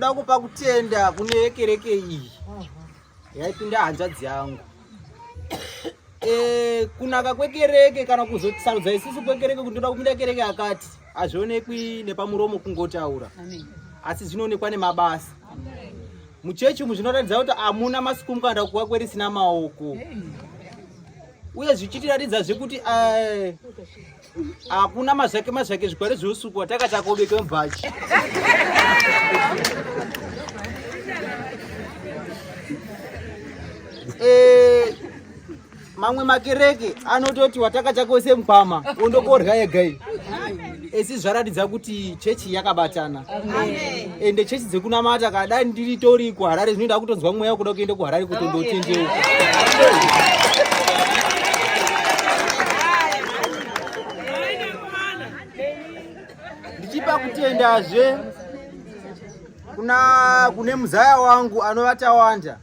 Ndoda kupa kutenda kune kereke iyi yaipinda hanzvadzi yangu e, kunaka kwekereke kana kuzosarudza isisu kwekereke kuti ndoda kupinda kereke yakati hazvionekwi nepamuromo kungotaura asi zvinoonekwa nemabasa muchechi umu zvinoratidza kuti hamuna masiku mukanda kuva kwerisina maoko uye zvichitiratidza zvekuti eh, Hakuna mazvake mazvake zvikware zveusuku wataka takobeka mubhachi. Eh, mamwe makereke anototi wataka chakose mkwama ondokorya yega iyi. Esi zvaratidza kuti chechi yakabatana. Amen. ende chechi dzekunamata ka dai ndiri tori kuharare zvinoita kutonzwa mweya kuda kuenda kuharare kuti ndotendeuka ndichipa kutendazve kuna kune muzaya wangu anovata wanda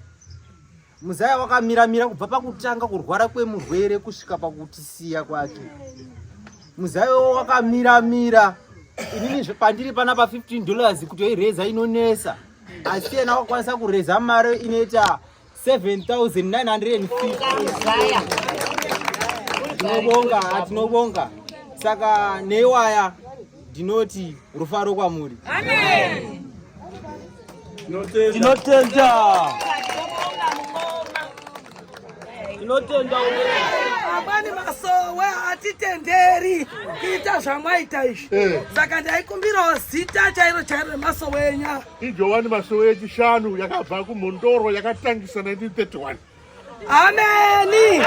Muzaya wakamira mira kubva pakutanga kurwara kwemurwere kusvika pakutisiya kwake. Muzaya wakamira mira inini pandiri pana pa 15 dollars kutoireza inonesa asi yena wakwanisa kureza mari inoita 7950 tinobonga tinobonga saka neiwaya ndinoti rufaro kwamuri tinotenda tinotenda amani masowe hatitenderi kuita zvamwaita izvi eh. saka ndaikumbirawo zita chairo chairo remasowe enyaya ijowani masowe echishanu yakabva kumhondoro yakatangisa 1931 Ameni.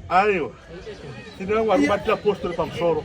Aiwa. Tinangwa kubatira postori pamusoro.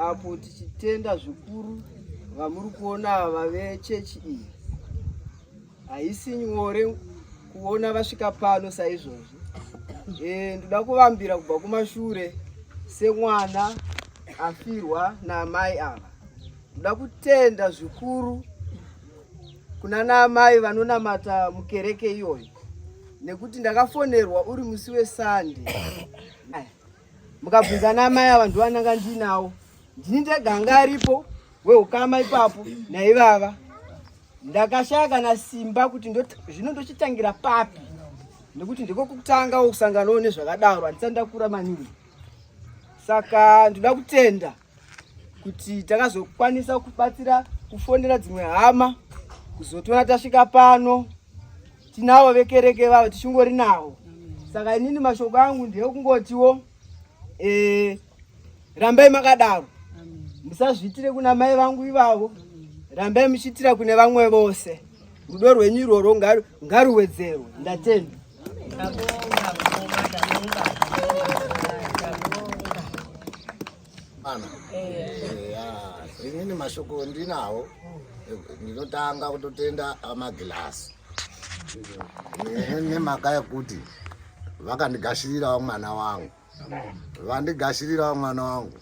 apo tichitenda zvikuru vamuri kuona ava vechechi iyi haisi nyore kuona vasvika pano saizvozvi e, ndoda kuvambira kubva kumashure semwana afirwa naamai ava ndoda kutenda zvikuru kuna naamai vanonamata mukereke iyoyo nekuti ndakafonerwa uri musi wesande mukabvunza namai ava ndivananga ndinawo ndini ndega anga aripo weukama ipapo naivava ndakashaya kana simba kuti zvino ndochitangira papi nekuti ndiko kutanga kusanganawo nezvakadaro handisati ndakura maningi saka ndoda kutenda kuti takazokwanisa kubatsira kufonera dzimwe hama kuzotiona tasvika pano tinavo vekereke vavo tichingori navo saka inini mashoko angu ndeekungotiwo e, rambai makadaro musazviitire kuna mai vangu ivavo rambai muchiitira kune vamwe vose rudo rwenyu irworwo ngaruwedzerwe ndatenda inini mashoko ndinawo ndinotanga kutotenda amagilasi nemhaka yekuti vakandigashirirawo mwana wangu vandigashirirawo mwana wangu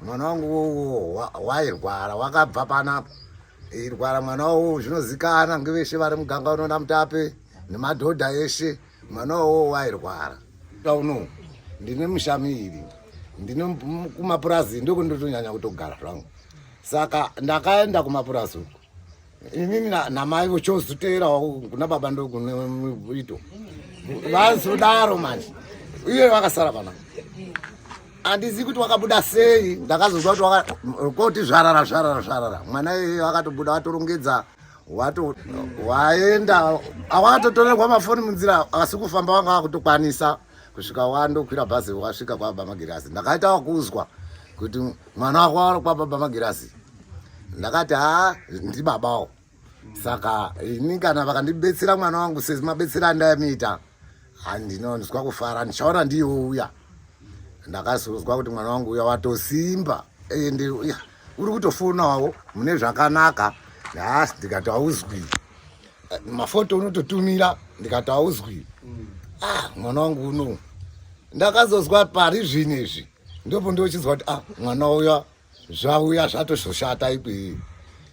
mwana wangu wowo wairwara wakabva panapa irwara mwana wowo zvinozikana ngeveshe vari muganga unoona mutape nemadhodha eshe mwana wowo wairwara tauno ndine mushamiri ndine kumapurazi ndokundotonyanya kutogara zvangu saka ndakaenda kumapurazi uku inini namai vochozoteerawo kuna baba ndokune muito vazodaro manje iye vakasara pana handizivi kuti wakabuda sei ndakazozwa kuti koti zvarara zvarara zvarara mwana iyeye wakatobuda watorongedza wato waenda awatotorerwa mafoni munzira asi kufamba wanga wakutokwanisa kusvika wandokwira bhazi wasvika kwababa magirazi ndakaita wakuzwa kuti mwana wako wari kwababa magirazi ndakati haa ndibabawo saka ini kana vakandibetsera mwana wangu sezi mabetsera andayamiita handinonzwa kufara ndichaona ndiyo uya ndakazozwa kuti mwana wangu uya watosimba ende uya uri kutofonawo mune zvakanaka nhasi ndikati hauzwi mafoto unototumira ndikati hauzwi mm. ah mwana wangu uno ndakazozwa pari zvino izvi ndopo ndochinzwa kuti ah mwana uya zvauya zvatozoshata ikwii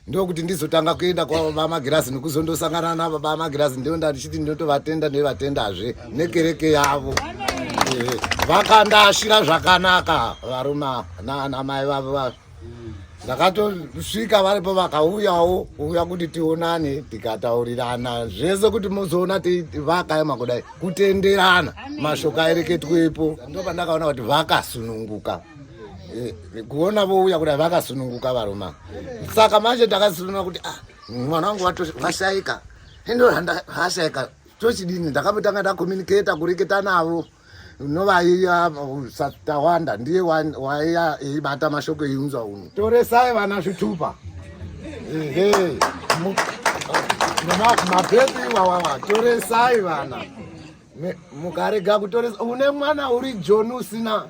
ndokuti ndizotanga kuenda kwababa magirazi nekuzondosangana nababa magirazi ndo ndatichiti ndotovatenda nevatendazve nekereke yavo eh, vakandaashira zvakanaka varume ava nana mai vavo vavo mm. ndakatosvika varipo vakauyawo kuuya kuti tionane tikataurirana zvese kuti muzoona vakaema kudai kutenderana mashoko aereketwepo ndo pandakaona kuti vakasununguka eh, kuona vouya kudai vakasununguka varoma saka manje takasununga kuti ah, mwana wangu washaika endo hashaika tochidini ndakambotanga takomuniketa kureketa navo unovaiya satawanda ndiye waiya eibata mashoko eiunza uno toresai vana zvitupa ehe mapepi iwawawa toresai vana mukarega kutoresa une mwana uri joni usina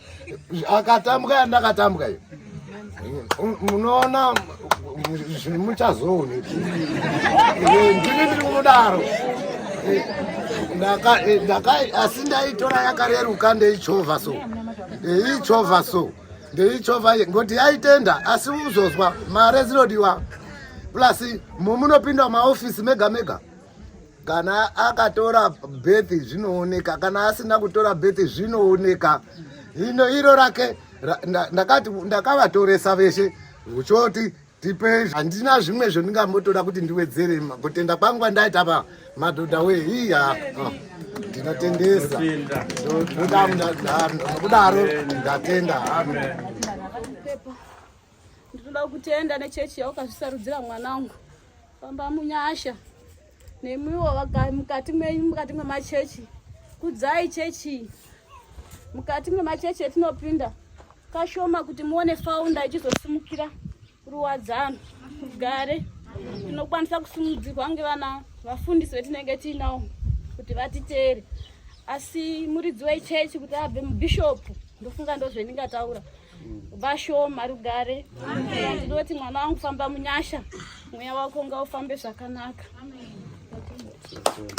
akatambwa yandakatambwa iyo munoona zvinhu muchazoone ndini ndiri kunodaro asi ndaitora yakareruka ndeichovha so ndeichovha so ndeichovha ngoti yaitenda asi uzozwa mare dzinodiwa plus mumunopinda mumaofisi mega mega kana akatora bethi zvinooneka kana asina kutora bethi zvinooneka ino iro rake ndakati ndakavatoresa veshe uchoti tipe handina zvimwe zvondingambotoda kuti ndiwedzere kutenda kwangu kwandaita pa madhodha we hiya ah, ndinotendesa kudaro ndatenda ndinoda kutenda nechechi yaukazvisarudzira mwanangu Famba munyasha nemwiwo mukati menyu mukati mwemachechi kudzai chechi mukati mwemachechi etinopinda kashoma kuti muone faunda ichizosimukira ruwadzano gare tinokwanisa kusimudzirwa kunge vana vafundisi vetinenge tiinawo kuti vatiteere asi muridzi wechechi kuti abve mubhishopu ndofunga ndozvendingataura so vashoma rugare ndinoti mwana wangu famba munyasha mweya wako ngaufambe zvakanaka Amen.